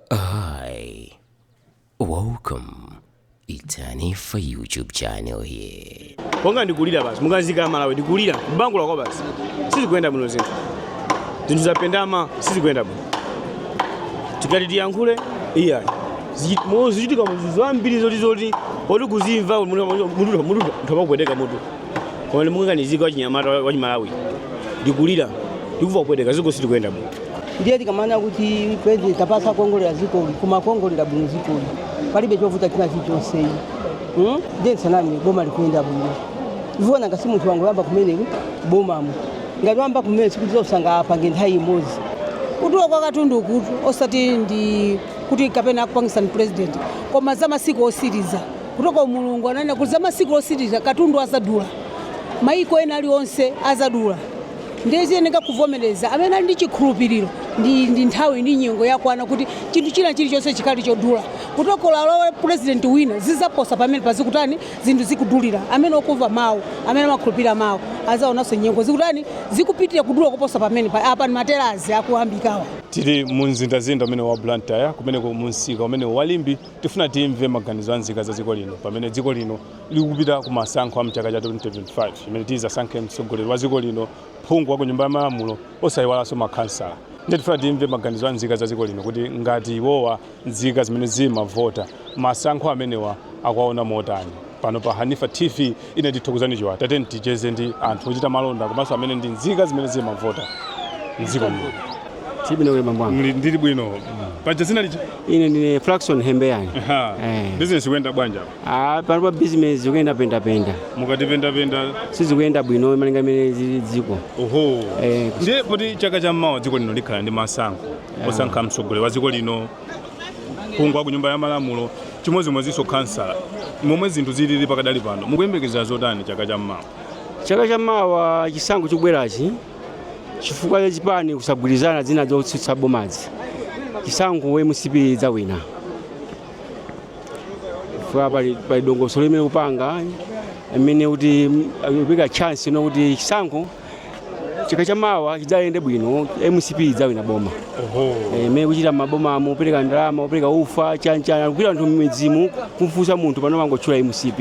Hi, welcome. It's Hanifa YouTube channel here. Ponga ndikulira basi, mukadziko ka Malawi ndikulira, m'bangula kwabasi. Sizikuyenda bwino zinthu. Zinthu zapendama, sizikuyenda bwino. Tikati tiyankhule, iya. Zikuchitika muzizo zambiri zoti zoti, oti kuzimva mutu mutu mutu mpaka kupweteka mutu. koma ndimukaganizira wachinyamata wachimalawi ndikulira ndikumva kupweteka dziko silikuyenda bwino ndiye tikamanena kuti president tampatsa kuongolera dzikoli koma akuongolera bwino dzikoli palibe chovuta china chilichonseyi hmm? ndiye tisaname boma likuyenda bwino ifeo tiona ngati munthu wangoyamba kumene bomamo ngati wayamba kumene sikuti zonse angathe apange nthawi imodzi kudula kwa katunduku kutu osati ndi kuti kapena akupangitsa ndi president koma za masiku otsiriza kutogolo mulungu ananena kuti za masiku otsiriza katundu adzadula mayiko ena aliwonse adzadula ndiye tiyeneka kuvomereza amene ali ndi chikhulupiriro ndi, ndi nthawi ndi nyengo yakwana kuti chinthu china chilichonse chikhale chodula kutogolo olo kulowe purezidenti wina zidzaposa pamenepa zikutani zinthu zikudulira amene akumva mawu amene amakhulupirira mawu adzaonanso nyengo zikutani zikupitirira kudula koposa pamenepa apa ndi matelazi akuyambikawa tili mu mzinda mzinda umene wa blantyre komanso mu msika umene wa limbe Tifuna timve maganizo a nzika za dziko lino pamene dziko lino likupita ku masankho a mchaka cha 2025 chimene tidzasankhe mtsogoleri wa dziko lino, phungu wa ku nyumba ya malamulo osayiwalanso makhansala. Ndiye tifuna timve maganizo a nzika za dziko lino kuti ngati iwowa nzika zimene zimavota, masankho amenewa akuwaona motani. Pano pa Hanifa TV Ine ndi Thokozani Chiwaya tatiyeni ticheze ndi anthu ochita malonda komanso amene ndi nzika zimene zimavota mdziko muno. Muli bwino kodi bambo wangu. Mli- Ndili bwino. Paja dzina lija. Ine ndine Flaxon Hembeyani. Aha. Eh. Business ikuyenda bwanji. Ah, pano pa business zikuyenda pendapenda. Mukati pendapenda. Sizikuyenda bwino malinga m'mene zilili m'dziko. Oho. Eh, Ndiye poti chaka cha mmawa dziko lino likhala ndi masankho. Osankha mtsogoleri wa dziko lino phungu wa ku nyumba ya malamulo chimodzimodzinso khansala momwe zinthu zilili pakadali pano mukuyembekezera zotani chaka cha mmawa chaka cha mawa chisankho chikubwerachi chifukwa cha zipani kusagwirizana zina zotsutsa bomazi chisankho mcp idzawina chifukwa pali pali dongosolo limene ikupanga imene ikuwapatsa chance ino kuti chisankho chaka cha mawa chidzayende bwino mcp idzawina boma Eh, imene ikuchita m'mabomamu opereka ndalama opereka ufa chanichani kugwira anthu mmidzimu kumfunsa munthu pano amangotchula mcp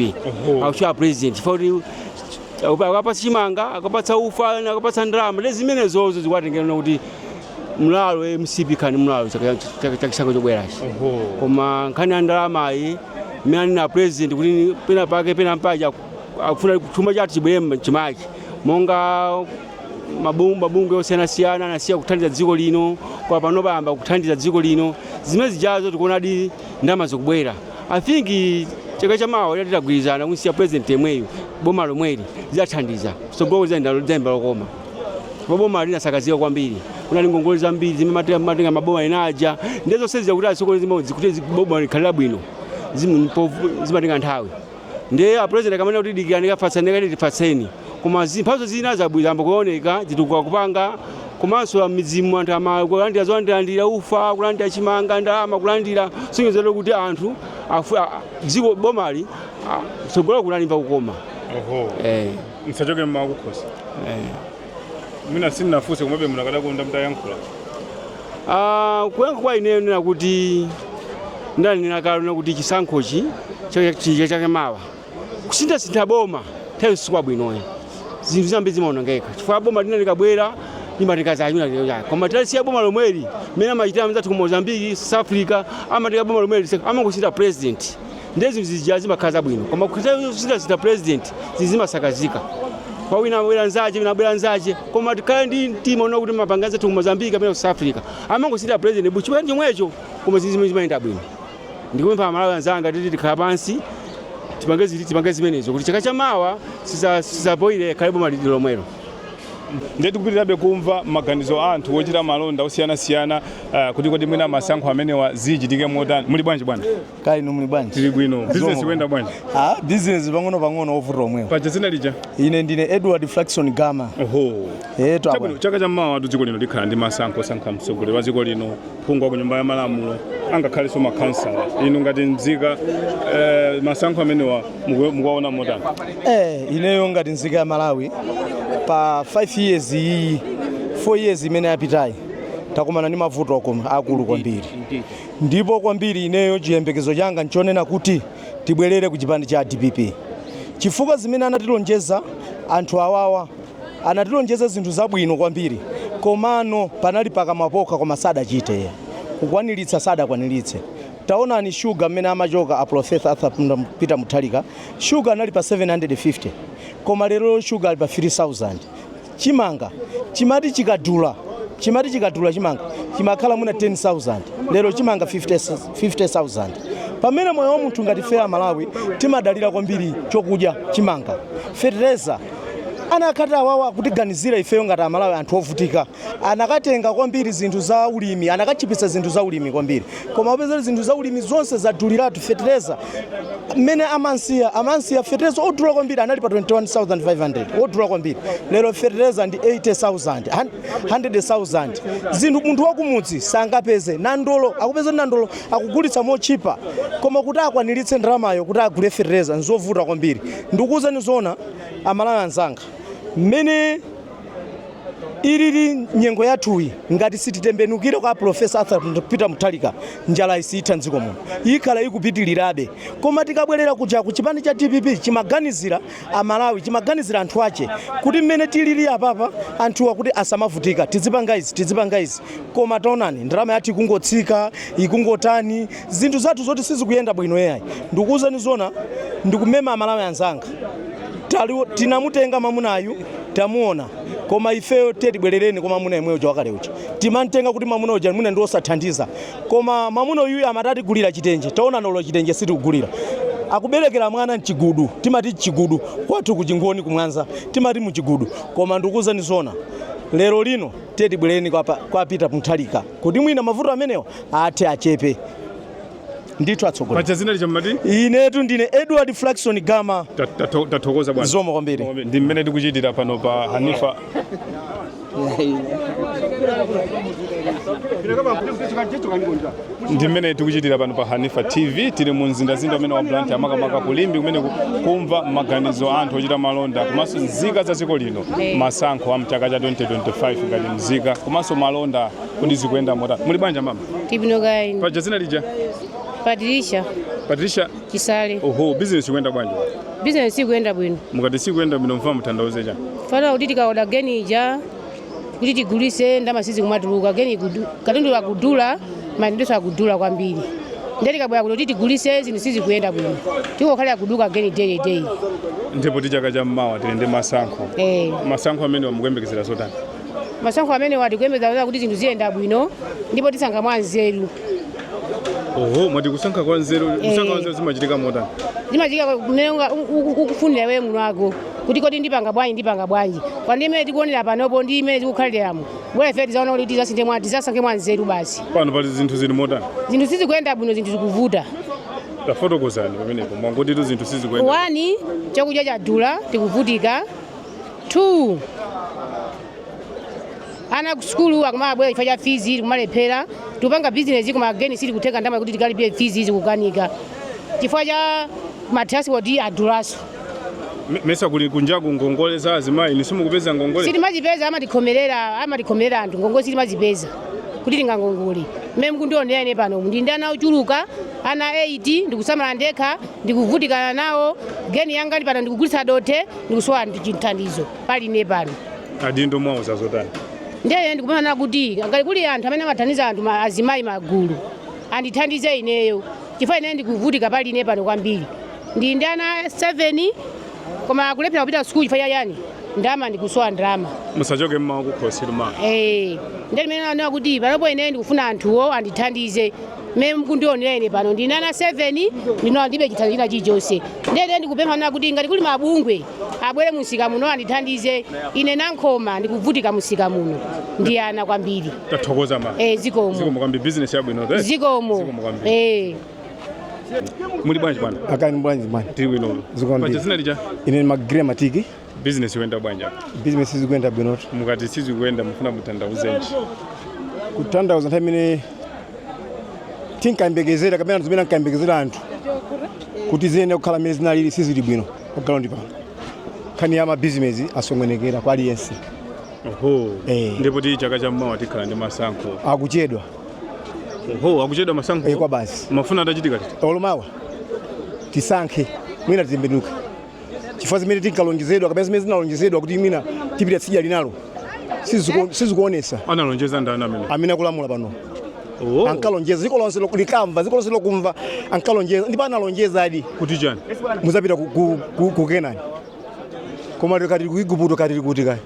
akutchula president chifukwa kuti akupa- akapatsa chimanga akapatsa ufa ena akapatsa ndalama ndiye zimenezozo zikuwatengera kuti mlalo eh, mcp ikhale mlalo chaka- chaka- cha chisankho chobwerachi koma nkhani ya ndalamayi imene anena president kuti pena pake pena mpaja akufuna chuma chathu chibwere mchimake monga mabungwe osiyanasiyana anasiya kuthandiza dziko lino koma pano ayamba kuthandiza dziko lino zimene zijazo tikuonadi ndalama zikubwera i think chaka chamawa ila titagwirizana kunsiya president yemweyu boma lomweli zidzathandiza tsogolo tizalimva lokoma ndipo boma linasakazika kwambiri kunali ngongole zambiri zimene amatenga maboma ena aja ndiye zonse zija kuti asokoneze kuti boma likhale bwino zimatenga nthawi ndiye apresident akamanena kuti dikirani kafatsani kati tifatseni koma zipatso zina zabwino zayamba kuoneka zitukuko akupanga komanso mmidzimu anthu ayamba kulandira zolandirandira ufa kulandira chimanga ndalama kulandira sonyezero kuti anthu afu- a- dziko bomali a- tsogolo kuno alimva kukoma Oho. eh, Msachoke mmakukhosi. eh. Mwina sindinafunse komabe munakadakonda mtayankhula. Ah, kuyankha kwa ineyo ndinena kuti ndanena kale na kuti chisankhochi cha- cha chaka chamawa kusinthasintha boma nthawi sikwabwino ayi zinthu zambiri zimaonongeka chifukwa boma lina likabwera limatenga zanyuwani koma titalisiya boma lomweli mmene amachitira anzathu ku mozambiki south africa amatenga boma lomweli amangosintha president ndiye zinthu zija zimakhala zabwino koma kusinthasintha president zinthu zimasakazika kwa wina abwera nzache wina abwera nzache koma tikhale ndi mtima wonena kuti amapanga anzathu ku mozambique kapena ku south africa amangosintha president but chipani chomwecho koma zinthu zimene zimayenda bwino ndikupempha amalawi anzanga titi tikhale pansi tipange ziti tipange zimenezo kuti chaka chamawa tizavotere likhale boma lili lomwelo ndiye tikupitirabe kumva maganizo a anthu ochita malonda osiyanasiyana uh, kuti kodi mwina masankho amenewa zichitike motani muli bwanji bwana kaya inu muli bwanji tili bwino Zomwe. business ikuyenda bwanji ah business pang'ono pang'ono mavuto omwewo paja dzina lija ine ndine edward flaxon gama oho eh to chabwino abwana chaka cha mmawatu dziko lino likhala ndi masankho osankha mtsogoleri wa dziko lino phungu wa ku nyumba ya malamulo angakhalenso makhansala inu ngati mzika eh, masankho amenewa muku- mukuwaona motani eh ineyo ngati nzika ya malawi pa 5 years iyi 4 years imene yapitayi takumana ndi mavuto akulu kwambiri Ndipo kwambiri ineyo chiyembekezo changa nchonena kuti tibwelere kuchipani cha dpp chifukwa zimene anatilonjeza anthu awawa anatilonjeza zinthu zabwino kwambiri komano panali pakamwa pokha koma sadachite kukwanilitsa sadakwanilitse taonani sugar mmene amachoka a Professor Arthur Peter Mutharika sugar anali pa 750 koma lero sugar ali pa 3000 chimanga chimati chikadula chimati chikadula chimanga chimakhala mwina 10000 lero chimanga 50 50000 pamene moyo wa munthu ngati ife amalawi timadalira kwambiri chokudya chimanga fertilizer anakati awawa akutiganizira ifeyo ngati amalawi anthu ovutika anakatenga kwambiri zinthu za ulimi anakachipisa zinthu za ulimi kwambiri koma upeza zinthu zaulimi zonse zaduliratu fetereza mmene amansiya amansiya fetereza wodula kwambiri anali pa 21500 wodula kwambiri lero fetereza ndi 80000 han- 100000 zinthu munthu wakumudzi sangapeze nandolo akupeza kuti nandolo akugulitsa mochipa koma kuti akwaniritse ndalamayo kuti agule fetereza nzovuta kwambiri ndikuwuzani zona amalawi anzanga mmene ilili nyengo yathuyi ngati sititembenukire kwa Profesa Arthur Peter Mutharika njala siyitha mdziko muno ikhala ikupitirirabe koma tikabwerera kuja ku chipani cha DPP chimaganizira amalawi chimaganizira anthu ache kuti mmene tilili apapa anthuwa kuti asamavutika tizipanga izi tizipanga izi koma taonani ndalama yathu ikungotsika ikungotani zinthu zathu zoti sizikuyenda bwino yayi ndikuwuzani zona ndikumema amalawi anzanga Tali- tinamutenga mamunayu Tamuona koma ifeyo tiye tibwerereni kwa mamuna yemwe uja wakale uja timamtenga kuti mamuna uja mwina ndi wosathandiza koma mamuna uyuyu amati atigulira chitenje taona olo chitenje sakutigulira akuberekera mwana mchigudu timati mchigudu kwathu kuchingoni ku Mwanza timati muchigudu koma ndikuwuzani zona lero lino tiye tibwerereni kwa, pa- kwa Peter Mutharika kuti mwina mavuto amenewa athe achepe ndithu atsogoleri paja dzina lija mwati inetu ndine edward flaxon gama tathokoza bwana zikomo kwambiri ndi mmene tikuchitira pano pa hanifa ndi mmene tikuchitira pano pa hanifa tv tili mu mzindazinda umenewu wa blantyre makamaka ku Limbe kumene ku- kumva maganizo a anthu ochita malonda komanso nzika za dziko lino masankho a mchaka cha 2025 ngati mzika komanso malonda Kodi zikuyenda motani? Muli bwanji mama? Tili bwino kaya inu. Paja dzina lija? Patricia. Patricia? Chisale. Oho, business ikuyenda bwanji? Business sikuyenda bwino. Mukati sikuyenda bwino mukufuna mutanthauze chani? Chifukwa choti tikaoda geni ija kuti tigulise ndama sizikumatuluka geni gudu. Katundu akudula, mandizo akudula kwambiri. Nde tikabwera kuti tigulise zinthu sizikuyenda bwino. Tikungokhala kuduka geni day day. Ndi poti chaka cha mmawa tili ndi masankho. Eh. Masankho amenewa mukuyembekezera zotani? Masankho amenewa tikuyembekeza kuti zinthu ziyenda bwino ndipo tisankha mwanzeru. Oho, mwati kusankha kwa nzeru, kusankha kwa nzeru zimachitika motani? Zimachitika mmene unga- u- u- ukufunira iwe mwini wako kuti kodi ndipanga bwanji ndipanga bwanji pa ndime imene tikuonera panopo ndi mmene tikukhaliramu bola ife tizaona kuti tizasinthe mwa tizasankhe mwanzeru basi Pano pali zinthu zili motani? zinthu sizikuyenda bwino zinthu zikuvuta Tafotokozani pamenepo, mwangoti zinthu sizikuyenda. wani chakudya chadula tikuvutika 2 ana ku sukulu akumabwera chifukwa cha fizi tikumalephera tikupanga bizinesi koma geni sili kutheka ndalama kuti tikalipire fizi zikukanika chifukwa cha matranspoti adulaso Me- mesa kuli kunja ku ngongole za azimayi nde simukupeza ngongole sitimazipeza amatikhomerera amatikhomerera anthu ngongole sitimazipeza kuti tingakongole mmene mukundionera ine pano ndi ndi ana ochuluka ana 8 ndikusamala ndekha ndikuvutikana nawo geni yanga ndi pano ndikugulitsa dothe ndikusowa chithandizo pali ine pano adindo mwauza zotani ndiye ndikupempha kuti ngati kuli anthu amene amathandiza anthu ma- azimayi magulu andithandize ineyo chifukwa ineyo ndikuvutika pali ine pano kwambiri ndi ndi ana 7 koma kulephera kupita sukulu chifukwa chani ndalama ndikusowa ndalama musachoke mmawa kukhosi luma Eh, ndiye ndimene naona kuti panopo ineyo ndikufuna anthuwo andithandize mmene mukundionera ine pano ndi ndi ana 7 ndinawa ndilibe chithandizo china chilichonse ndiye nde ndikupempha nana kuti ngati kuli mabungwe abwere mumsika muno andithandize ine nankhoma ndikuvutika mumsika muno ndi ana kwambiri tathokoza ma eh zikomo zikomo kwambiri business yabwino eh? zikomo Zikomo kwambiri. eh muli bwanji bwana akani bwanji bwana tili bwino Zikomo paja ndiri. dzina lija ine ni magire matiki Business ikuyenda bwanji apa? Business sizikuyenda bwino. Mukati sizikuyenda mufuna mutanthauzenji? Kutanthauza nthawi imene tinkayembekezera kapena zimene ankayembekezera anthu kuti ziyenera kukhala mmene zinalili sizili bwino pa ground pano. Nkhani ya mabizinesi asokonekera kwa aliyense. Oho. Eh. Ndipoti chaka cha mmawa tikhala ndi masankho. Akuchedwa Oho, akuchedwa masankho. eh, kwa basi. Mufuna atachitika liti? Olo mawa tisankhe mwina titembenuke. chifukwa zimene tinkalonjezedwa kapena zimene zinalonjezedwa kuti mwina tipita tsidya linalo siziku- sizikuonetsa analonjeza ndani amene amene akulamula pano Oh, ankalonjeza dziko lonse loku- likamva dziko lonse lokumva ankalonjeza ndipo analonjezadi kuti chani mudzapita ku- ku- ku- ku kenani koma tikati ku Iguputo kaya tili kuti kaya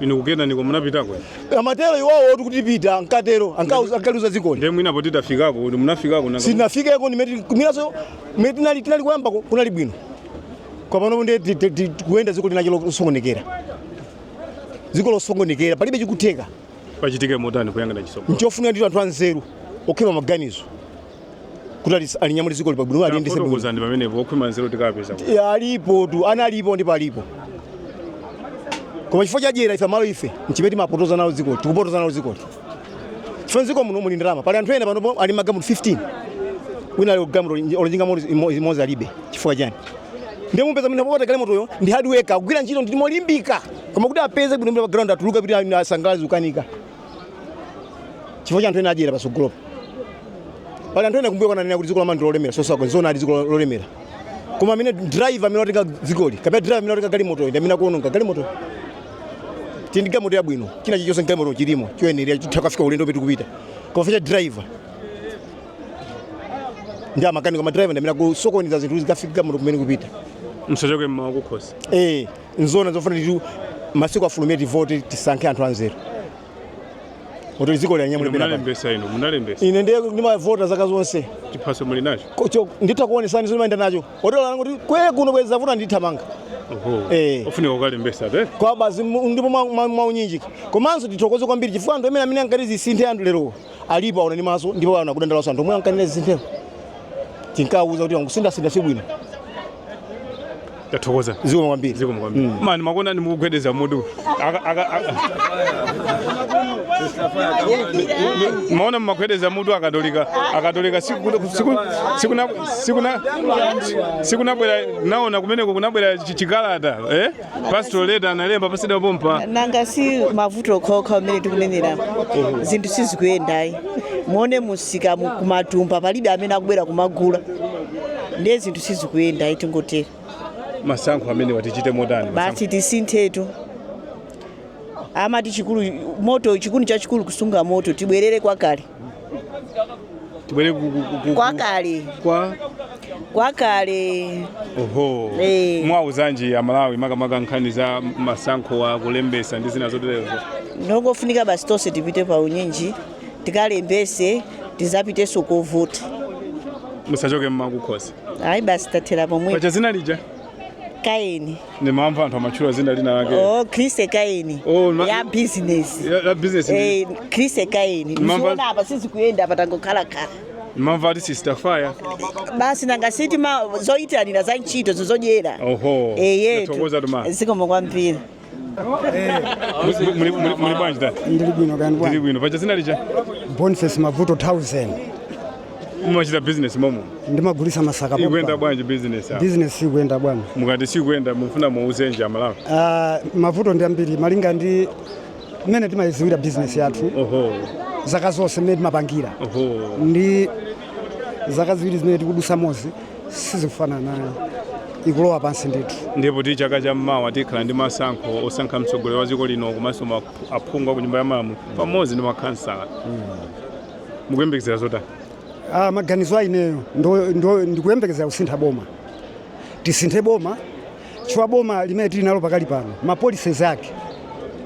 inu ku Kenaniko munapitako amatero iwawo oti kuti tipita ankatero anka- ankaliuza dzikoli ndiye mwinapo titafikako ndi munafikako nanga- sinafikeko mwinanso mmene tinali tinali koyamba ku- kunali bwino kwapano nde ti- ti- ti- kuyenda dziko linachilo losokonekera dziko losokonekera palibe chikutheka pachitike motani kuyangana chisomo nchofunika ndi anthu anzeru okhwima maganizo kuti ali- alinyamule dzikoli pabwino aliyendetse bwino fotokozani pamenepo okhwima nzeru tikapeza kuti. Ya, alipo tu ana alipo ndipo alipo koma chifukwa cha dyera ife aMalawi ife nchimene timapotoza nalo dzikoli tikupotoza nalo dzikoli chifukwa mdziko muno muli ndalama pali anthu ena panopo ali magalimoto 15 wina ali galimoto olo njinga ya moto imo- imodzi alibe chifukwa chani ndiye mupeza mwina wopanda galimotoyo ndi hard worker kugwira ntchito ndi molimbika koma kuti apeze bwino pa ground atukuke kuti asangalale zikukanika chifukwa cha anthu ena adyera patsogolopa pali anthu ena kumbuyo kunanena kuti dziko la malawi ndi lolemera sosauka nzoona ali dziko lo- lolemera koma amene driver amene watenga dzikoli kapena driver amene watenga galimotoyo ndi amene akuononga galimotoyo tili ndi galimoto yabwino china chilichonse ndi galimoto chilimo choyenera chithe kukafika ulendo umene tikupita koma vuto driver ndi amakanika madriver ndi amene akusokoneza zinthu sikafika galimoto kumene ikupita msachoke mmwa kukhosi eh nzoona zofuna nditu masiku afulumire tivote tisankhe anthu anzeru kuti dziko alinyamule pena munalembesa ino munalembesa ine ndiye ndimavota zaka zonse chiphaso muli nacho nkocho nditha kuonesani ndimayenda nacho otola languli kutikwe kuno bwezi zavuta ndithamanga oho Eh. ofunika ukalembesa eti kwa basi mu- ndipo mwa- mwa- mwaunyinjika komanso tithokoze kwambiri chifukwa anthu amene amene ankati zisinthe anthu lero alipo aona ndi maso ndipo aona akudandaulanso anthu omwe ankanena zisinthewo tinkawauza kuti zongosinthasintha si bwino Tathokoza. Zikomo kwambiri. Zikomo kwambiri. Mm. Mayi ndakuonani mukugwedeza mutu. Aka aka. Ndaona mumagwedeza mutu akatolika. Akatolika siku siku siku na siku na siku nabwera ndaona kumeneko kunabwera chi- chikalata eh? Pastoral letter analemba posachedwa pompa. nanga si mavuto okhaokha amene tikunenera zinthu sizikuyendayi muone musika mu- kumatumba palibe amene akubwera kumagula ndiye zinthu sizikuyenda ayi tingotero masankho amenewa tichite motani basi tisinthetu amati chikuni moto chikuni chachikulu kusunga moto tibwerere kwakale tibwere ku- ku- ku- ku- kwakale kwa kwakale oho Eh. muwauzanji amalawi makamaka nkhani za masankho akulembesa ndi zina zoterezo ndongofunika basi tonse tipite pa unyinji tikalembese tizapiteso kovota musachoke mmwa kukhosi ayi basi tathera pomwe paja dzina lija kaeni ndimamva anthu amatchula dzina lina lake oh chrissy kaeni Oh, ma- la business La- la business ndi- eh chrissy kaeni Mamba- mziona apa sizikuyenda apa tangokhala khala ndimamva ati sister fire basi nanga si tima zoyitanira za ntchito zi zodyera oho eyetu tathokoza tuma zikomo kwambiri Muli- muli- muli bwanji dad ndili bwino kaya ndili bwino paja dzina lija boniface mavuto 1000 mumachita business mommo ndimagulisa masaka ikuyenda pompa. bwanji business apa? business sikuyenda bwana mukati sikuyenda mufuna muuzenji amalawi Ah, mavuto ndi ambiri malinga ndi mmene timayidziwira business yathu oho zaka zonse mmene timapangira oho ndi zaka ziwiri zimene tikudusamozi sizikufanana nayo ikulowa pansi ndithu ndipo ti chaka cha mmawa tikhala ndi masankho osankha mtsogoleri wa dziko lino komanso ma- aphungu a ku nyumba ya malamulo pamodzi ndi makhansala mukuyembekezera zotani ah, maganizo a ineyo ndo- ndo- ndikuyembekezera kusintha boma tisinthe boma chifukwa boma limene tili nalo pakali pano ma policies ake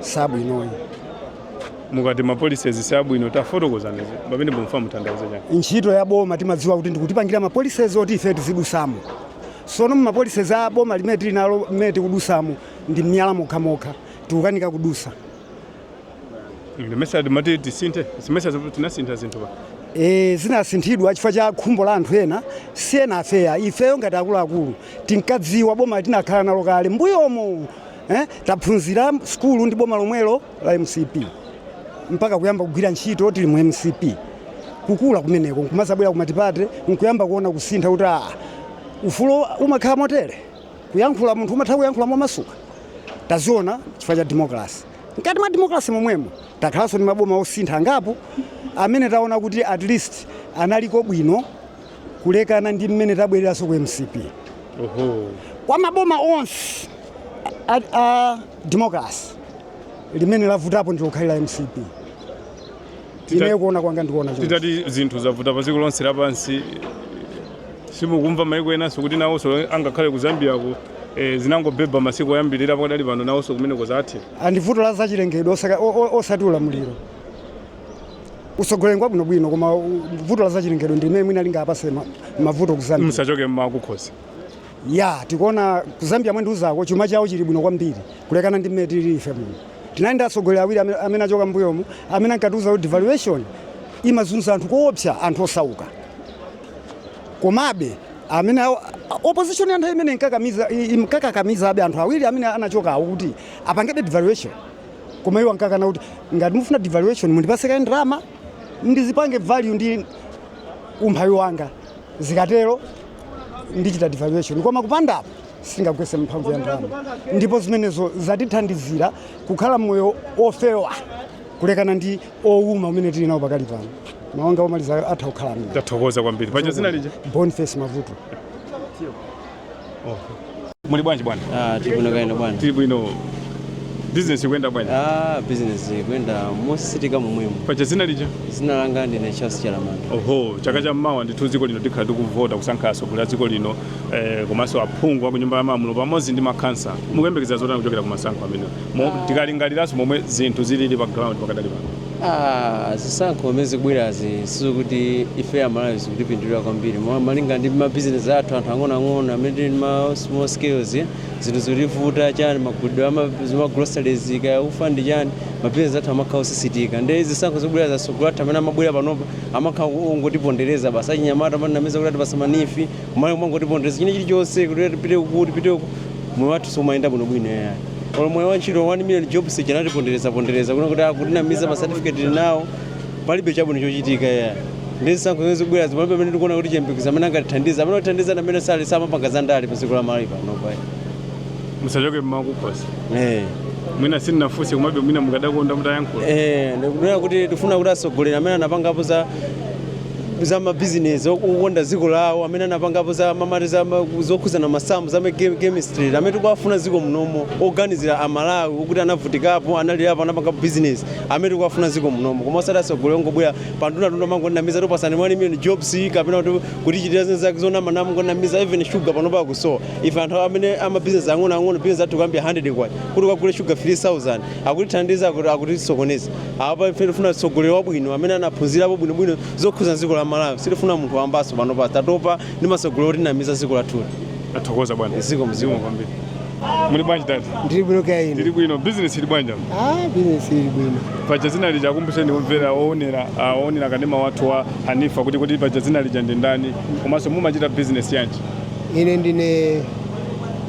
sabwinoyi mukati ma policies sabwino tafotokozani pamene mumfuna mutanthauze chani ntchito ya boma timadziwa kuti ndikutipangira ma policies oti ife tizidusamo sono mu ma policies a boma limene tili nalo limene tikudusamo ndi miyala mokhamokha tikukanika kudusa simesa timati tisinthe simesa tinasintha zinthu pa e, zinasinthidwa chifukwa cha khumbo la anthu ena si enafeyo ifeyo ngati akuluakulu tinkadziwa boma tinakhala nalo kale mbuyomo eh, taphunzira sukulu ndi boma lomwelo la mcp mpaka kuyamba kugwira ntchito tili mu mcp kukula kumeneko nkumazabwera kumatipate nkuyamba kuona kusintha kuti aa ufulo umakhala motere kuyankhula munthu umatha kuyankhula momasuka taziona chifukwa cha democracy Mkati mwa demokrase momwemo takhalanso ndi maboma osintha angapo amene taona kuti at least analiko bwino kulekana ndi mmene tabwereranso ku mcp kwa maboma onse a, a demokrase limene lavutapo ndi lokhali la mcp Tita- ineyo kuona kwanga ndikuona choncho. titati zinthu zavuta pa dziko lonse lapansi simukumva maiko enanso kuti nawonso angakhale ku zambiako eh, zinangobhebha masiku oyambirira pakadali pano nawonso kumeneko zatheka ndi vuto la zachilengedwe osaka- o- o- osati ulamuliro utsogoleri ngwabwinobwino koma u- vuto la zachilengedwe ndi limene mwina lingapase ma- mavuto kuzambia musachoke mmakukhosi Yaa, tikuona ku Zambia mwandiuzako chuma chawo chili bwino kwambiri kulekana ndi mmene tilili ife muno. Tinali ndi atsogoleri awiri amene, amene achoka mbuyomu amene ankatiuza kuti devaluation imazunza anthu koopsa, anthu osauka. Komabe amene awo- opposition ya nthawi imeneyo inkakamiza imkakakamizabe anthu awiri amene anachokawo kuti apangebe devaluation. Koma iwo ankakana kuti ngati mufuna devaluation mundipase kaye ndalama ndizipange devalue ndi umphawi wanga zikatero ndichita devaluation koma kupanda apo sindingagwese mphamvu ya ndalama ndipo zimenezo zatithandizira kukhala moyo ofewa kulekana ndi owuma umene tili nawo pakali pano mawu anga omaliza atha kukhala amenewo tathokoza kwambiri paja zina lija boniface mavuto Muli bwanji bwana? Ah, tili bwino kaya inu bwana. Tili bwino. Business ikuyenda bwanji? Ah, business ikuyenda mosisitika momwemo. Paja zina lija? Zina langa ndine Charles Chalamanda. Oho, chaka cha mmawa ndithu dziko lino tikhala tikuvota kusankha atsogoleri a dziko lino eh, komanso aphungu a ku nyumba ya malamulo pamodzi ndi makhansala. Mukuyembekeza zotani kuchokera ku masankho amenewa? Mo- Tikalingaliranso momwe zinthu zilili pa ground pakadali pano. Ah, zisankho zimene zikubwerazi sizokuti ife amalawi zikutipindulira kwambiri Mo- malinga ndi mabizinesi athu anthu ang'onoang'ono amene tili ndi ma small scales eh, zinthu zikutivuta chani magulidwe amagroceries kaya ufa ndi chani mabizinesi athu amakhala osisitika ndi zisankho zikubwerazi asogoleri athu amene amabwera panopa amakhala ongotipondereza basi achinyamata amatinamiza kuti atipasa ma neef kumali mongotipondereza china chilichonse kuti tipite uku tipite uku moyo wathu siumayenda bwinobwino yayi olo moyo wa ntchito 1 million jobs anatipondereza pondereza kuna kuti akutinamiza ma certificate tili nawo palibe chabwino chochitika yayi ndi zisankho zimene zikubwera zimene pamene tikuona kuti chiyembekezo amene angatithandiza amene atithandiza amene sali samapanga za ndale pa dziko la malawi panopa musachoke mmakukhosi eh mwina sindinafunse komabe mwina mukadakonda mutayankhula eh ndikunena kuti tifuna kuti atsogoleri amene anapangapo za za mabizinesi okonda dziko lawo amene anapangapo za mamati za ma- zokhudzana masamu za ma- chem- chemistry amene tikuwafuna dziko munomu oganizira amalawi okuti anavutikapo analirapo anapanga bizinesi amene tikuwafuna dziko munomu koma osati atsogoleri ongobwera pandunatunda kumangonamiza tikupatsani 1 million jobs kapena kuti kutichitira zinthu zake zonama namangonamiza even sugar panopa ikusowa ife anthu amene amabizinesi ang'onoang'ono bizinesi athu kuyambira 100 kwacha kuti ukagule sugar 3000 akutithandiza akuti- akutisokoneza Apa ife tifuna tsogoleri wabwino amene anaphunzirapo bwinobwino zokhudza dziko la Malawi. Sitifuna munthu wambaso panopa tatopa ndi atsogoleri otinamiza dziko lathu lino. Tathokoza bwana. Zikomo kwambiri. Muli bwanji dad? Ndili bwino kaya inu. Ndili bwino. Business ili bwanji apa? Ah, business ili bwino. Paja dzina lija akumbutseni omvera oonera ah, oonera kanema wathu wa Hanifa kuti kuti paja dzina lija ndi ndani komanso mumachita business yanji? Ine ndine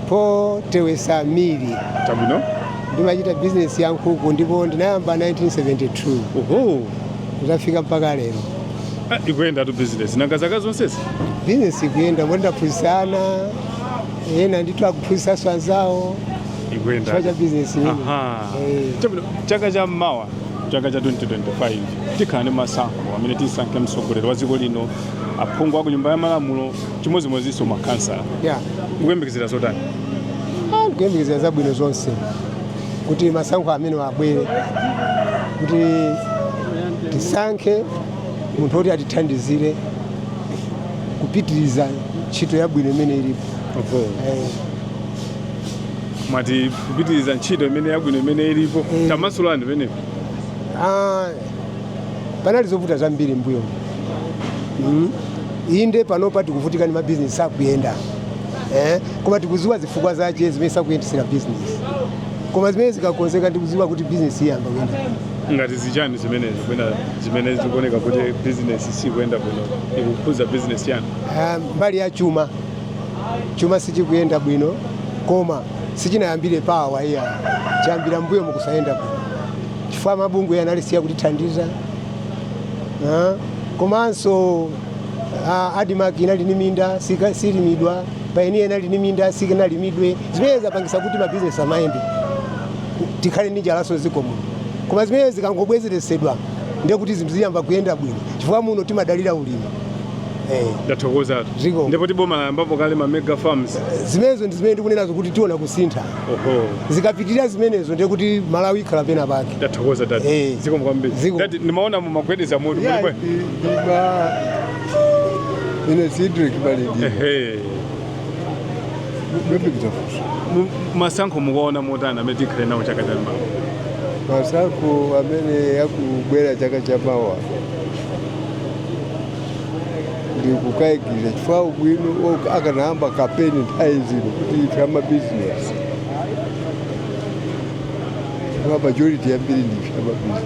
Paul Tewesa Mili. Chabwino. Ndimachita bizinesi ya nkhuku ndipo ndinayamba 1972. Oho. Kudzafika mpaka lero. Ah, ikuyendatu business. Nanga zaka zonsezi? Bizinesi ikuyenda moti ndaphunzitsa ana ena ndithu akuphunzitsanso anzawo Ikuyenda. chifukwa cha bizinesi imene. Aha. Eh. Chabwino, chaka cha mawa chaka cha 2025 tikhala ndi masankho amene tisankhe mtsogoleri wa dziko lino aphungu a ku nyumba ya malamulo chimodzimodzinso makhansala Yeah. mukuyembekezera zotani Ah, ndikuyembekezera zabwino zonse kuti masankho amene abwere kuti tisankhe munthu woti atithandizire kupitiriza ntchito yabwino imene ilipo Oho. Eh, mwati kupitiriza ntchito imene yabwino imene ilipo Mm. tamasulani penepo ah, panali zovuta zambiri mmbuyo mm. inde panopa tikuvutika ndi mabizinesi akuyenda eh, koma tikudziwa zifukwa zake zimene sakuyendetsera business koma zimene zikakonzeka ndikudziwa kuti business iyamba kuyenda ngati zichani zimenezo kwena zimene zikuoneka kuti bizinesi sikuyenda bwino zikukhudza bizinesi yanu Ah, mbali ya chuma chuma sichikuyenda bwino koma sichinayambire pa awa iyayi chayambira mmbuyo mukusayenda bwino chifukwa mabungwe analisiya kutithandiza Ah, komanso a ADMARC inali ni minda sika- silimidwa payiniya inali ni minda sikinalimidwe zimene zapangisa kuti mabizinesi asamayende tikhale ndi njalaso ziko muno koma zimene zikangobwezeresedwa ndiye kuti zinthu ziyamba kuyenda bwino chifukwa muno timadalira ulimi eh. ndathokozatu Zikomo. ndipotu boma layambapo kale ma mega farms zimenezo ndi zimene ndikunenazo kuti tiona kusintha oho zikapitirira zimenezo ndiye kuti malawi ikhala pena pake ndathokoza dadi Eh. zikomo kwambiri Zikomo. Dadi, ndimaona mumagwedeza mutu Yeah, kuti bwe- Ba ine Cedric Balidi. Ehe. Bebe kutafuta. Mu- Masankho mukuona motani amene tikhale nawo chaka cha mawa. Masankho amene akubwera chaka cha mawa. ndikukaikira chifukwa bwino aka- akanayamba kampeni nthawi zino kuti ife amabizinesi chifukwa majority yambiri ndife amabizinesi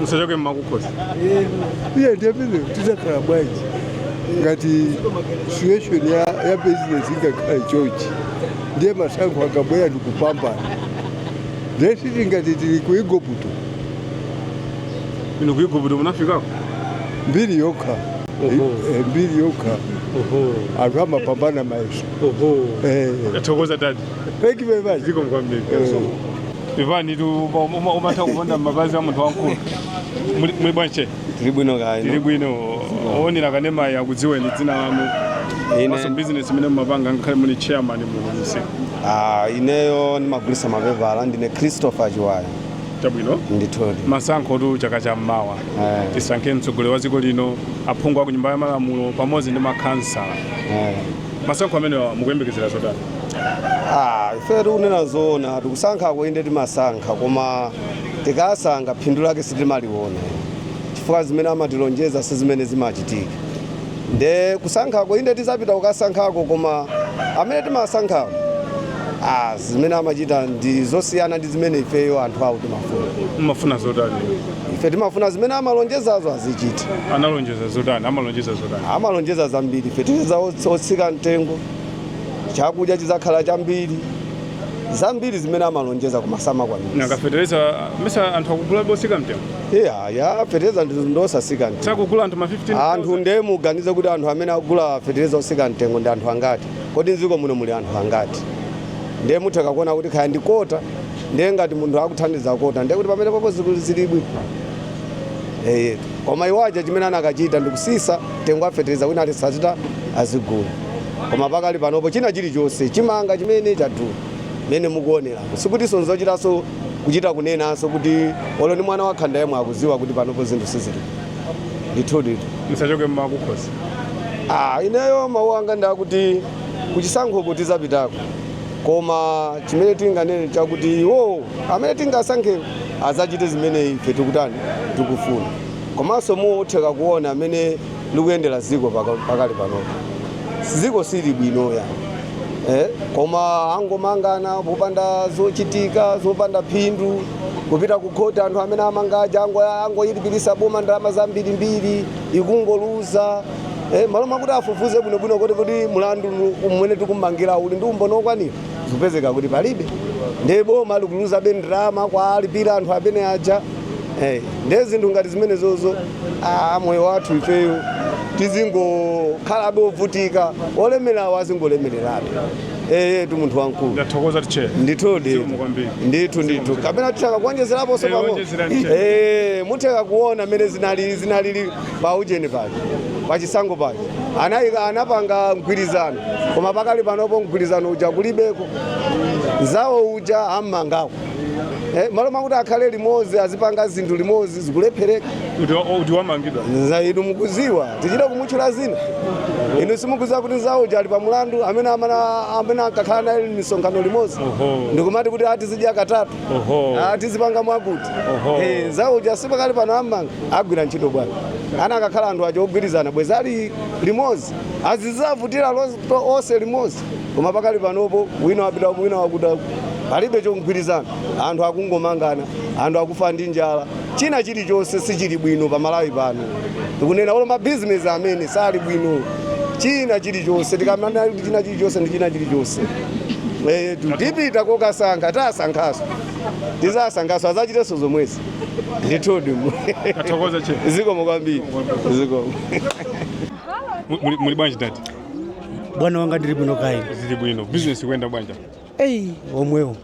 musachoke mmakukhosi iye ndiye pamene titakhala bwanji ngati situation ya, ya business ikakhala chochi ndiye masankho akabwera ndikupambana ndiye siti ngati tili ku igupto inu ku igupto munafikako mbiri yokha Oho. Eh, eh, mbiri yokha oho anthu amapambana mayeso oho Eh, tathokoza dadi thank you very much zikomo kwambiri Eh. pepanitu uma- uma- umatha kuponda m'mapazi a munthu wamkulu Muli- muli bwanji tili bwino kaya tili bwino owonera kanemayu akudziweni dzina lanu Ine- komanso bizinesi imene mumapanga ngakhale muli chairman musi Ah, ineyo ndimagulisa mapepala ndine christopher chiwaya chabwino ndithudi masankhotu chaka cha mmawa Eh. tisankhe mtsogoleri wa dziko lino aphungu a ku nyumba ya malamulo pamodzi ndi makhansala Eh. Masankho amenewa mukuyembekezera zotani? Ah, ife kunena zoona kusankhako inde timasankha koma tikasankha phindu lake sitimaliona chifukwa zimene amatilonjeza si zimene zimachitika nde kusankhako inde tizapita kukasankhako koma amene timasankhawo ah, zimene amachita ndi zosiyana ndi zimene ifeyo anthu awo timafuna Mmafuna zotani? ife timafuna zimene amalonjezazo azichita analonjeza zotani amalonjeza zotani amalonjeza zambiri feteleza ots- otsika mtengo chakudya chizakhala chambiri zambiri zimene amalonjeza koma samakwanisa nanga fetereza mesa anthu akugula wosika mtengo iyayi feteleza ndi- ndosasika mtengo sakugula anthu ma 15 anthu nde muganize kuti anthu amene akugula feteleza osika mtengo ndi anthu angati kodi mdziko muno muli anthu angati nde mutheka kuona kuti kaya ndi kota ndiye ngati munthu akuthandiza kota ndiye kuti pamene popo zinthu zilibwi Eh, koma iwo aja chimene anakachita ndikutsitsa mtengo wa fetereza wina aliyense atha azigula koma pakali panopo china chilichonse chimanga chimene chadula mmene mukuonera sikutinso nzochitanso kuchita kunenanso kuti olo ni mwana wakhanda yemwe akudziwa kuti panopo zinthu sizili ndithudi ndichoke mmakukhosi Ah, ineyo mawu anga ndakuti kuchisankhoko tidzapitako koma chimene tinganene chakuti iwowo amene tingasankhewo adzachite zimene ife tikutani tikufuna komanso mutha kuona mmene likuyendera dziko paka- pakali panopo dziko sili bwino iyayi eh? koma angomangana popanda zochitika zopanda phindu kupita kukhoti anthu amene amangaja angoyilipirisa boma ndalama zambirimbiri ikungoluza Eh, malo mwakuti afufuze bwinobwino kuti kuti mlandu umene tikummangira uli ndi umboni wokwanira zikupezeka kuti palibe ndiye boma likuluzabe ndalama kuwalipira anthu amene aja eh, ndiye zinthu ngati zimenezozo ah, moyo wathu ifeyo tizingokhalabe ovutika olemerawo azingolemererabe eh, tu munthu wamkulu ndathokoza tacheza ndithudi Zikomo kwambiri. ndithu ndithu kapena titha kuonjezeraponso Eh, pang'ono onjezerani. Eh, mutha kuona mmene zinali zinalili pa ujeni paja pa chisankho paja anayika anapanga mgwirizano koma pakali panopo mgwirizano uja kulibeko nzawo uja ammangako eh, malo mwakuti akhale limodzi azipanga zinthu limodzi zikulephereka kuti wa- kuti wamangidwa dzina inu mukudziwa tichita kumutchula dzina inu simukudziwa kuti nzawo uja ali pa mulandu amene amana- amene ankakhala naye misonkhano limodzi Oho. ndikumati kuti ati tizidya katatu Oho. Ah, tizipanga mwakuti Oho. Eh, nzawo uja sipakali pano ammanga agwira ntchito bwanji ana- akanakhala anthu aja ogwirizana bwenzi ali limodzi akuvutikira lo- to- onse limodzi koma pakali panopo wina wapita uku, wina wapita uku. palibe chogwirizana anthu akungomangana anthu akufa ndi njala china chilichonse sichili bwino pa Malawi pano tikunena olo mabizinesi amene sali bwino china chilichonse tikanena china chilichonse ndi china chilichonse etu tipita kukasankha tasankhanso tidzasankhanso adzachitenso zomwezi ndithudi Tathokoza che. zikomo kwambiri zikomo Mu- muli- Muli bwanji dad? bwana wanga ndili bwino kaya inu Tili bwino. Business ikuyenda bwanji. eyi omwewu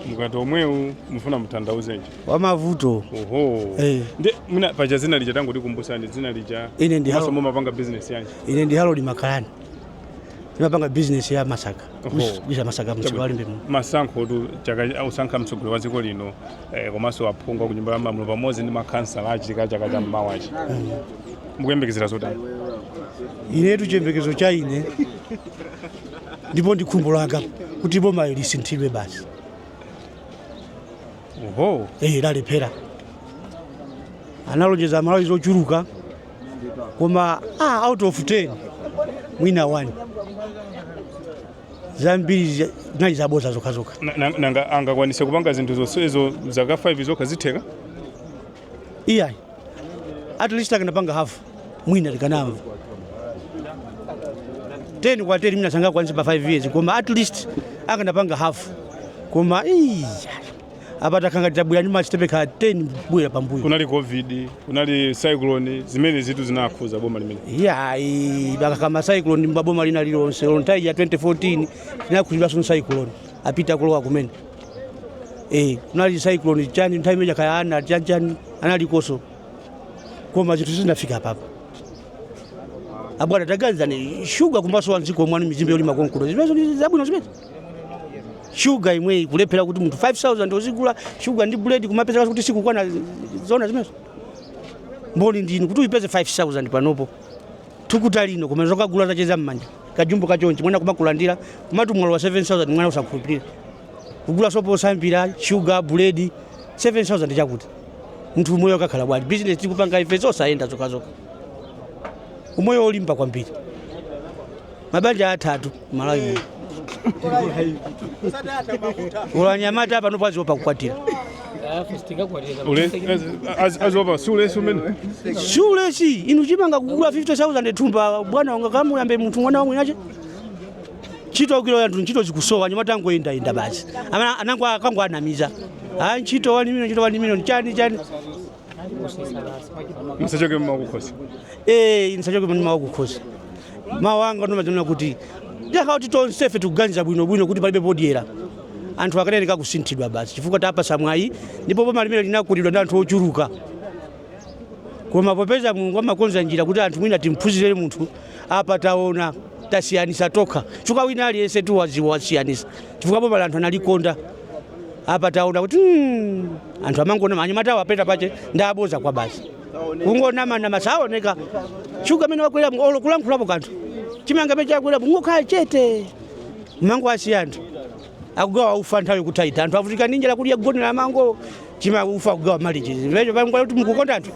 Mukati omwewu mufuna mutanthauze chani. wamavuto Oho. Eh. Ndiye mwina paja dzina lija tangotikumbutsani dzina lija. Ine ndi Maso Harold. mumapanga business yanji. ine ndi Harold Makalani timapanga bizinesi ya masaka kugulitsa masaka mumsika wa Limbe muno masankho tu chaka osankha mtsogoleri wa dziko lino eh, komanso aphungu ku nyumba ya malamulo pamodzi ndi makhansala achitika chaka cha mawachi mukuyembekezera zotani inetu chiyembekezo cha ine ndipo ndi khumbo langa kuti bomayo lisinthidwe basi oho eh lalephera analonjeza Amalawi zochuluka koma ah, out of 10 mwina wani zambiri zi- zinali zaboza zokhazokha Na- na- nanga angakwanise kupanga zinthu zonsezo zaka 5 zokha zitheka iyayi at least akanapanga hafu mwina tikanamva 10 kwa 10 mwina sangakwanitse pa 5 years koma at least akanapanga hafu koma iyayi apa takhala ngati tabwera ndi masitepe kaya 10 kubwera pambuyo kunali covid kunali cyclone zimenezotu zinakhuza boma limeneli iyayi akakamba za cyclone mmaboma lina lililonse olo nthawi ya 2014 tinakhuzidwanso ndi cyclone apita kulowa kumene eh kunali cyclone chani nthawi imeneija kaya ana chani chani analikonso koma zinthu sizinafike apapa abwana taganizani shuga komanso wa mdziko mwathu mizimbe yolima konkuno zimenezo ndi zabwino zimene shuga yomweyi kulephera kuti munthu 5000 uzigula shuga ndi buledi kumapezeka kuti sikukwana zona zimenezo mboni ndinu kuti uyipeze 5000 panopo thukuta lino koma zokagula zacheza mmanja kajumbo kachonchi mwana kumakulandira kumati mwalowa 7000 mwana osakhulupirira kugula sopo osambira shuga buledi 7000 yatha kuti munthu umoyo akakhala bwanji bizinesi tikupanga ife zosayenda zokhazokha umoyo olimba kwambiri mabanja akuthatu malawi muno olo anyamata panopa akuopa kukwatira akuopa si ulesi umene si ulesi inu chimanga kugula 50000 thumba bwana ungakamuyambe munthu mwana wa mwini wake ntchito ulibe anthu ntchito zikusowa anyamata akungoyendayenda basi Amene anango anangowanamiza a ntchito wani miliyoni ntchito wani miliyoni chani chani musachoke mmau a kukhosi Eh, ndisanachoke mawu a kukhosi mawu anga ndimanena kuti ngati kuti tonsefe tikuganiza bwinobwino kuti palibe podyera anthu akanenekha kusinthidwa basi chifukwa tawapatsa mwayi ndipo boma limeneli linakondedwa ndi anthu ochuluka koma popeza mulungu amakonza njira kuti anthu mwina timphunzire munthu apa taona tasiyanisa tokha chifukwa wina aliyense atha kusiyanitsa chifukwa bomali anthu analikonda apa taona kuti mm, anthu amangonama anyamata awo apita pache ndi aboza kwa basi kungonamanama sawoneka shuga amene wakwera olo kulankhulapo kanthu chimanga amene chakwerapo ngokhala chete amangowasiya anthu akugawa ufa nthawi kuthaita anthu avutika ndi njala kudya kugonera mango chima ufa akugawa malichi chimenecho nkumati kuti mukukonda anthu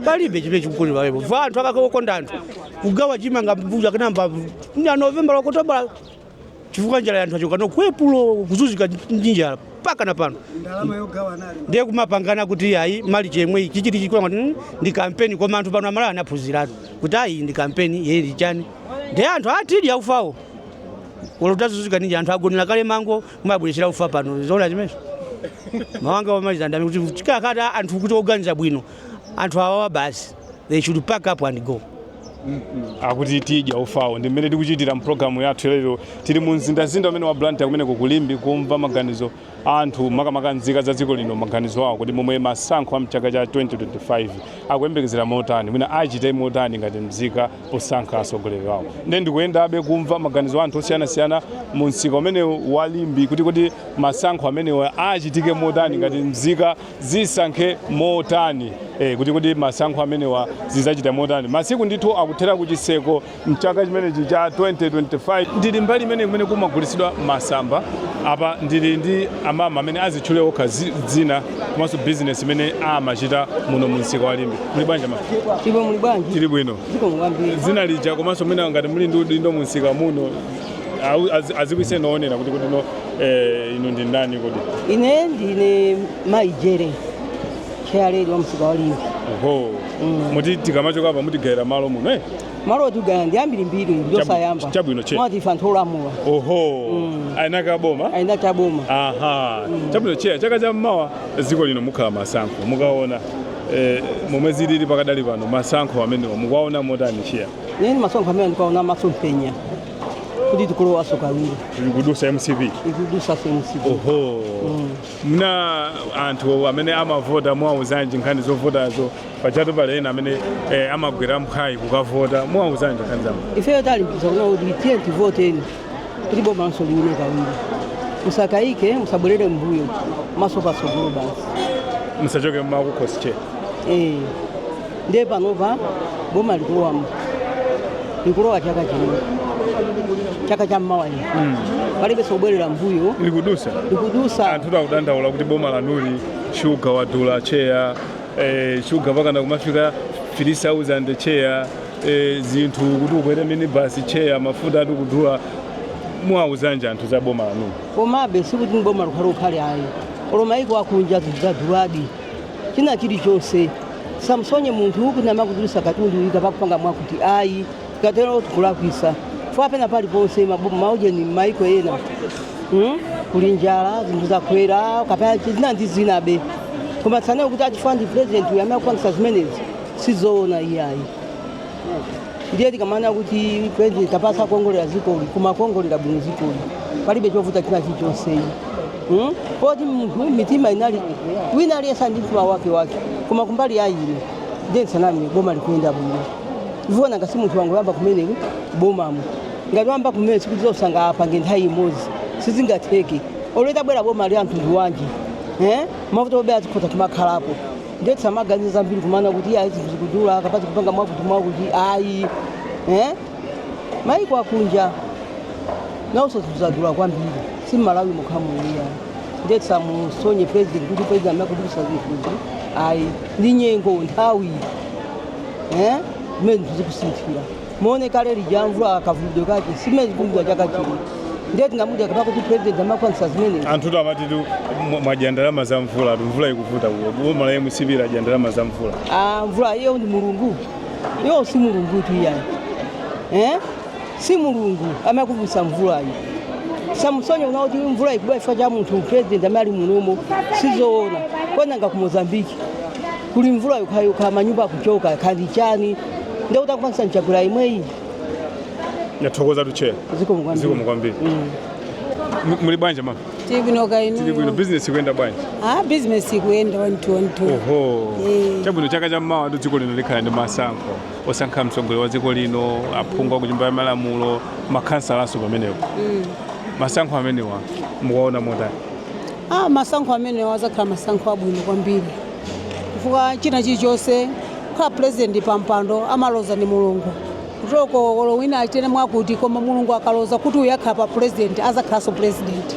palibe chimene chikukoma pamenepo va anthu akakonda anthu kugawa chimanga mbuja kanamba nya novembala okotobala chifukwa njala anthu achoka nayo ku epulo kuzuzika ndi njala paka na pano ndalama yogawa anali ndiye kumapangana kuti ayi malichi mmene ichi chili chikula ngati mm, ndi kampeni koma anthu pano amalawi anaphunziratu kuti ayi ndi kampeni yeye ndi chani ndiye anthu atidya ufawo olo tazuzika ndi njala anthu agonera kale mango kumabwerechera ufa pano zoona zimenezo mawu anga omaliza ndingati kuti tikakata anthu oti oganiza bwino anthu awawa basi they should pack up and go akuti tidya ufawo ndi mmene tikuchitira mpulogalamu yathu lero tili mu mzindazinda umene wa blantyre kumene kuno ku limbe kumva maganizo a anthu makamaka nzika za dziko lino maganizo awo kuti momwe masankho a mchaka cha 2025 akuyembekezera motani mwina achite motani ngati mzika posankha atsogoleri awo nde ndikuyendabe kumva maganizo a anthu osiyanasiyana mu msika umenewu wa limbe kuti kodi masankho amenewa achitike motani ngati mzika zisankhe motani eh, kuti kodi masankho amenewa zizachita motani masiku ndithu akuthera ku chiseko mchaka chimenechi cha 2025 ndili mbali imene kumene kumagulitsidwa masamba apa ndili ndi amama amene azitchule okha zi- dzina komanso bizinesi imene amachita muno mu msika wa limbe muli bwanji ma Ndipo muli bwanji? tili bwino Zikomo muli bwanji? dzina lija komanso mwina ngati muli ndi udindo mu msika muno Awu- azi- adziwitseni oonera kuti kodi no eh, inu ndi ndani kodi ine ndine mai jere chairlady wa msika wa limbe oho muti tikamachoka apa mutigayira malo muno eh? malo otigayira ndi ambirimbiri ndosayamba Chabu- chabwino cheya. mwati ife anthu olamula oho aina ka boma aina ta boma aha chabwino cheya chaka cha mmawa dziko lino mukhala masankho mukaona eh, momwe zilili pakadali pano masankho amenewa mukuwaona motani cheya Ine ndi masankho amene ndikuwaona masomphenya kuti tikulowaso kawiri ikudusa mcp ikudusa mcp oho nanga anthu amene amavota muwauzanji nkhani zovotazo pachatu pali ena amene eh, amagwera mphwayi kukavota muwauzanji nkhani zama ifeyo talimbikisa kuona kuti tiye tivoteni kuti boma lathunso liwine kawiri musakayike musabwerere mbuyo maso patsogolo basi musachoke mmakukhosi cheya Eh, ndiye panopa boma likulowamo likulowa chaka chino chaka cha mmawa lino palibe sobwerera mbuyo likudusa likudusa anthu akudandaula kuti boma lanuli shuga wadula cheya eh, shuga pakana kumafika 3000 cheya e, zinthu kuti ukwere minibasi cheya mafuta ati kudula muwauzanji anthu za boma lanuli komabe sikuti boma likhale ukhale ayi olo maiko akunja zinthu zaduladi china chilichonse tisamsonye munthu kuti amakudulisa katundu kapa kupanga mwakuti ayi tikatero tikulakwisa fwa pena paliponse mabu- maujeni maiko ena hmm? kuli njala zinthu zakwera kapena zina ndi zinabe koma tisanene kuti a chifukwa ndi president uyu amene akupangisa zimenezi sizoona iyayi ndiye tikamanena kuti president apasa kuongolera dzikoli koma kuongolera bwino dzikoli palibe chovuta china chilichonse ayi hmm? poti munthu mitima inali wina aliyense ndi mtima wake wake koma kumbali ya ine ndiye ndisaname boma likuyenda bwino ivuona ngati munthu wangoyamba kumene bomamo ngati wayamba kumene sikuti zonse angapange nthawi imodzi sizingatheke olo litabwera boma la mtundu wanji eh? mavuto obera zikhoza kumakhalapo ndiye tisamaganize zambiri kumanena kuti ayi zinthu zikudula kapa zikupanga mwakuti mwakuti ayi eh? maiko akunja nawonso zinthu zadula kwambiri si mmalawi mokhamu iyayi ndiye tisamusonye president kuti president amene akudulisa zinthuzi ayi ndi nyengo nthawi eh? zimene zinthu zikusinthira muone kale lija mvula kavumbidwe kake si mmene zikugwa chaka chino ndiye tingamude kapa kuti president amakwanisa zimene anthutu amatitu mwa- mwadya ndalama za mvula tu mvula ikuvuta kulo boma la mcp ladya ndalama za mvula Ah, mvula iyo ndi mulungu iyo si mulungu tu iyayi eh? si mulungu amakuvusa mvulayi tisamusonye wina kuti mvula ikugwa chifukwa cha munthu president amene ali munomo sizoona nanga ku mozambiki kuli mvula yokhayokha manyumba akuchoka kaya ndi chani nde uti akupangisa n'Chakwera imweyi Ndathokozatu chair. zikomo kwambiri Zikomo kwambiri. M- Muli bwanji mama? Tili bwino kaya inu. Tili bwino. business ikuyenda bwanji? Ah, business ikuyenda one two one two. Oho. Eh. Chabwino chaka cha mmawa ndi dziko lino likhala ndi masankho. Osankha mtsogoleri wa dziko lino, aphungu a ku nyumba ya malamulo, makhansalanso pamenepo. Masankho amenewa mukuwaona motani? Ah, masankho amenewa azakhala masankho abwino kwambiri. chifukwa china chilichonse kukhala president pampando amaloza ndi mulungu kuteroko olo wina achitene mwakuti koma mulungu akaloza kuti uyu akhala pa president azakhalanso president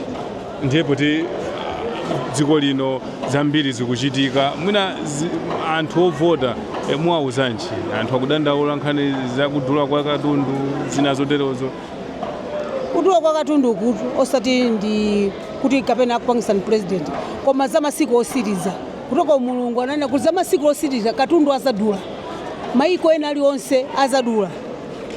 ndiye poti ah, dziko lino zambiri zikuchitika mwina zi, anthu ovota eh, muwauzanji anthu akudandaula nkhani zakudula kwa katundu zina zoterozo Kudula kwa katundu ukutu osati ndi kuti kapena akupangisa ni president koma za masiku osiriza kuteroko mulungu ananena kuti za masiku osiriza katundu azadula maiko ena alionse azadula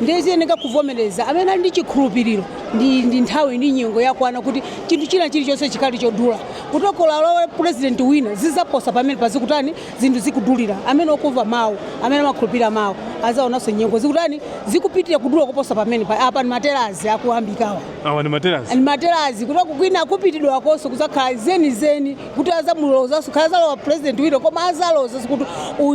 ndiye ziyeneka kuvomereza amene ali ndi chikhulupiriro ndi, ndi nthawi ndi nyengo yakwana kuti chinthu china chilichonse chikhale chodula kuteroko olo alowe president wina zizaposa pamenepa zikutani zinthu zikudulira, amene okumva mawu, amene amakhulupirira mawu, azaonanso nyengo zikutani, zikupitirira kudula kuposa pamene apa ni materazi akuyambikawa awa ni materazi ni materazi kutoka kwina akupitidwa akonso kuzakhala zeni zeni kuti azamulozanso khala azalowa president wina koma azaloza kuti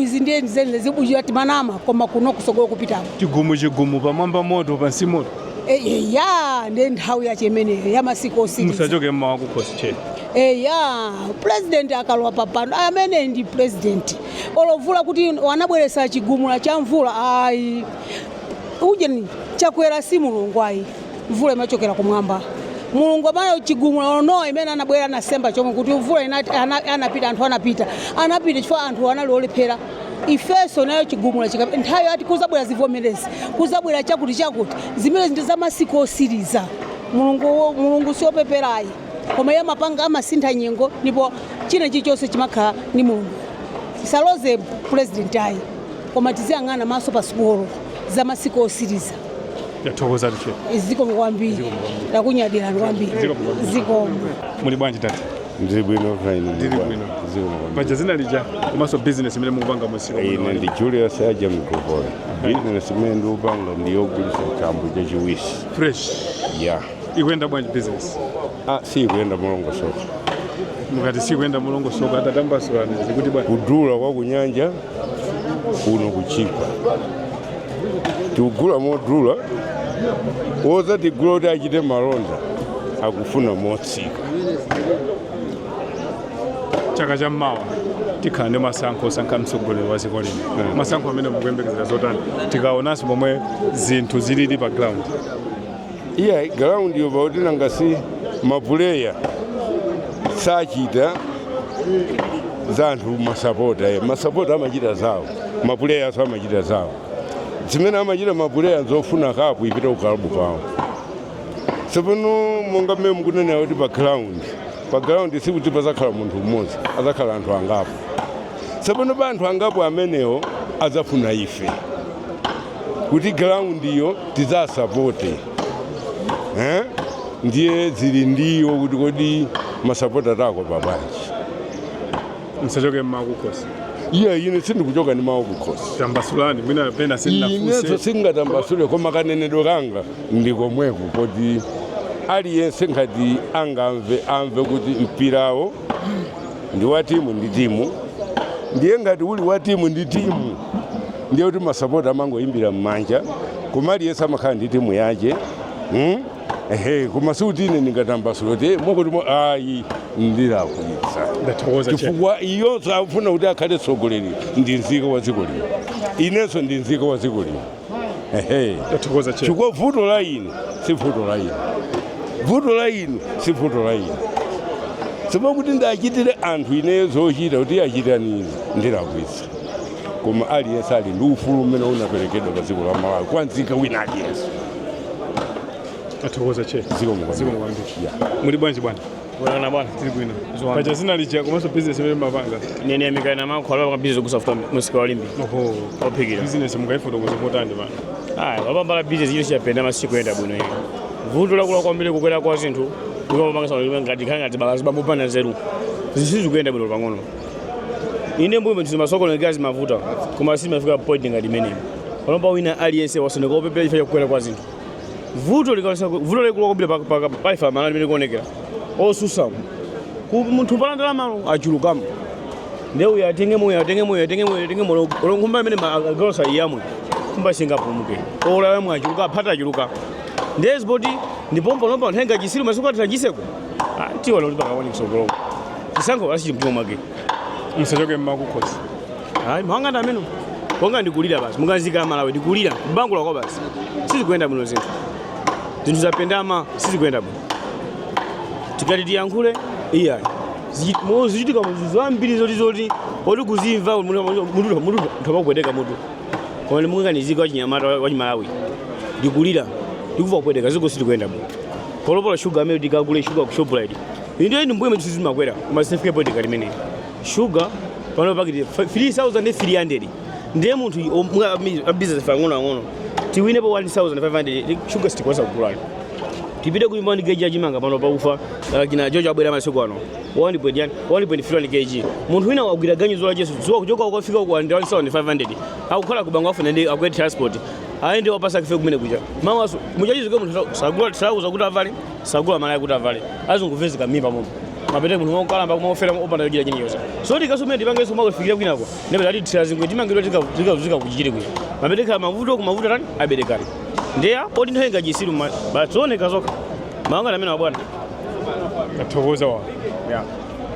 izi ndiye zeni lezi bujira timanama koma kuno kusogolo kupitako chigumu chigumu pamwamba moto pansi moto eya ndiye nthawi yache imeneyo ya masiku osiriza musachoke ni mawu kukhosi cheni eya president akalowa papano amene ndi president olovula kuti wanabweresa chigumula cha mvula ayi ujeni chakwera si mulungu ayi mvula imachokera kumwamba mulungu amene chigumula o nowa mmene anabwera anasema chombo kuti mvula inati ana- anapita anthu anapita anapita chifukwa anthu anali olephera ifeso nayo chigumula chika nthawi ati kuzabwera zivomerezi kuzabwera chakuti chakuti zimene ndi za masiku osiriza mulungu mulungu si opepera ayi koma iye amapanga amasintha nyengo ndipo china chilichonse chimakhala ni mulungu tisaloze pulezidenti ayi koma tiziyang'ana maso pa sukulu za masiku osiriza othokoza ndife zikomo kwambiri takunyadirani kwambiri Zikomo kwambiri. zikomo muli bwanji tata ndili bwino kaya inu Ndili bwino. zikomo paja zina lija komanso business imene mukupanga mumsika ine ndi julius aja mgopole bizinesi imene ndikupanga ndiyogulisa chambo chachiwisi fresh ya ikuyenda bwanji business ah, siikuyenda molongosoka mukati siikuyenda molongosoka tatambasulani zikuti bwanji kudula kwa kunyanja kuno kuchipa tikugula modula wozatigula kuti achite malonda akufuna motsika chaka cha mmawa tikhala ndi masankho osankha mtsogoleri wa dziko lino hmm. masankho amene mukuyembekezera zotani tikaonanso momwe zinthu zilili pa ground iya ground yo pakuti nanga si mapuleya sachita za anthu masapota eh. masapota amachita zawo mapuleyaso amachita zawo zimene amachita mapuleya zofuna kapu ipite kukalabu kwawo tsopano monga mmene mukunenera kuti pa ground pa ground sikuti pazakhala munthu mmodzi azakhala anthu angapo tsopano pa anthu angapo amenewo azafuna ife kuti ground iyo tidzasapote eh? ndiye zili ndi iwo kuti kodi masapota atakopa bwanji msachoke ni mawu kukhosi iye ine sindikuchoka ndi mawu kukhosi tambasulani mwina pena ineso sindinamvese singatambasule koma kanenedwe kanga ndikomweko kuti aliyense ngati angamve amve kuti mpirawo ndi wa timu ndi timu ndiye ngati uli wa timu ndi timu ndiye kuti masapota amangoyimbira m'manja koma aliyense amakhala ndi timu yache hmm? ehe koma sikuti ine ndingatambasule kuti "Eh, mwakuti mwa ayi ndilakwitsa ndathokoza che chifukwa iyonso akufuna kuti akhale tsogoleri ndi nzika wa dziko lino inenso ndi nzika wa dziko lino Tathokoza chero. chifukwa vuto la inu si vuto la inu vuto la inu si vuto la inu sima kuti ndachitire anthu ineyo zochita kuti achitani ine ndilakwitsa koma aliyense ali ndi ufulu umene unaperekedwa pa dziko la malawi kwa nzika wina aliyense Tathokoza chero. Zikomo kwambiri. Muli bwanji bwana? Bwana bwana, tili bwino. Paja dzina lija komanso business imene mumapanga. Ndine Yamikani Makhwala wa business kugulitsa mafuta mumsika wa Limbe. Oho. Ophikira. Business mungaifotokoze motani bwana. Ah, baba mbala business yonse yapendama sikuyenda bwino iyo. Vuto lakula kwambiri kukwera kwa zinthu. Ndipo mapanga sana limwe ngati khanga ngati bakazi babu pana zeru. Zinthu sizikuyenda bwino pang'ono. Inde mbuyomu zimasokoneka zimavuta. Koma sizimafika point ngati imeneyi. Panopa wina aliyense wasanduka opepera chifukwa cha kukwera kwa zinthu. vuto likawesa vuto lalikulu kwambiri pa- pa- pa ife amalawi limene likuonekera osusamu Ku- munthu pa ndalama achulukamo nde uyu atenge moyo atenge moyo atenge moyo atenge moyo olonkhumba amene agalosa iyamwe kumba singapumuke olalamwe achuluka aphata achuluka nde zipoti ndipompo lomba anthu enga chitsiru masiku athera kuchitseko Ah, tiona kuti pakawani mtsogolomo chisankho asichimtima mwake musachoke mmakukhosi ayi mawu anga ndi amenewo koma ndikulira basi monga nzika ya Malawi ndikulira kubangula kwa basi sizikuyenda bwino zinthu zinthu zapendama sizikuyenda bwino tikati tiyankhule iya zikuchitika munthu zambiri zoti zoti oti kuzimva munthu amakupweteka mutu koma monga nzika wachinyamata wachimalawi ndikulira ndikumva kupweteka dziko silikuyenda bwino panopa shuga amene tikagule shuga ku shoprite inde m'mbuyomu zinthu zimakwera koma sizinafike point ngati imeneyi shuga pano pakiti 3300 ndiye munthu i- om- mwa ami- a business ang'ono ang'ono tiwinepo 1500 shuga sitikwanitsa kugulani tipite ku imani kg ya chimanga pano pa ufa uh, kina jojo abwera masiku ano 1.1 1.3 kg munthu wina wagwira ganyu zola chesu dzuwa kuchoka ukafika ku 1500 akukhala ku Bangwe afuna ndi akwere transport ayende wapansi akafike kumene kuja mawa muchachizuke munthu sagula thalauza kuti avale sagula malaya kuti avale azinguvezi kamimba momo mapeto munthu mwakukalamba kumafera opanda chochita chilichonse so tikaso mene tipangeso kumakufikira kwinako ndipo atithira zingwe timangidwa tikazunzika ku Chichiri kwina mapeto akhala mavuto kumavuto tani aberekani ndeya poti nthawi nga chitsiru mma basi zooneka zokha mawu anga ndi amenewa bwana tathokoza wa yeah.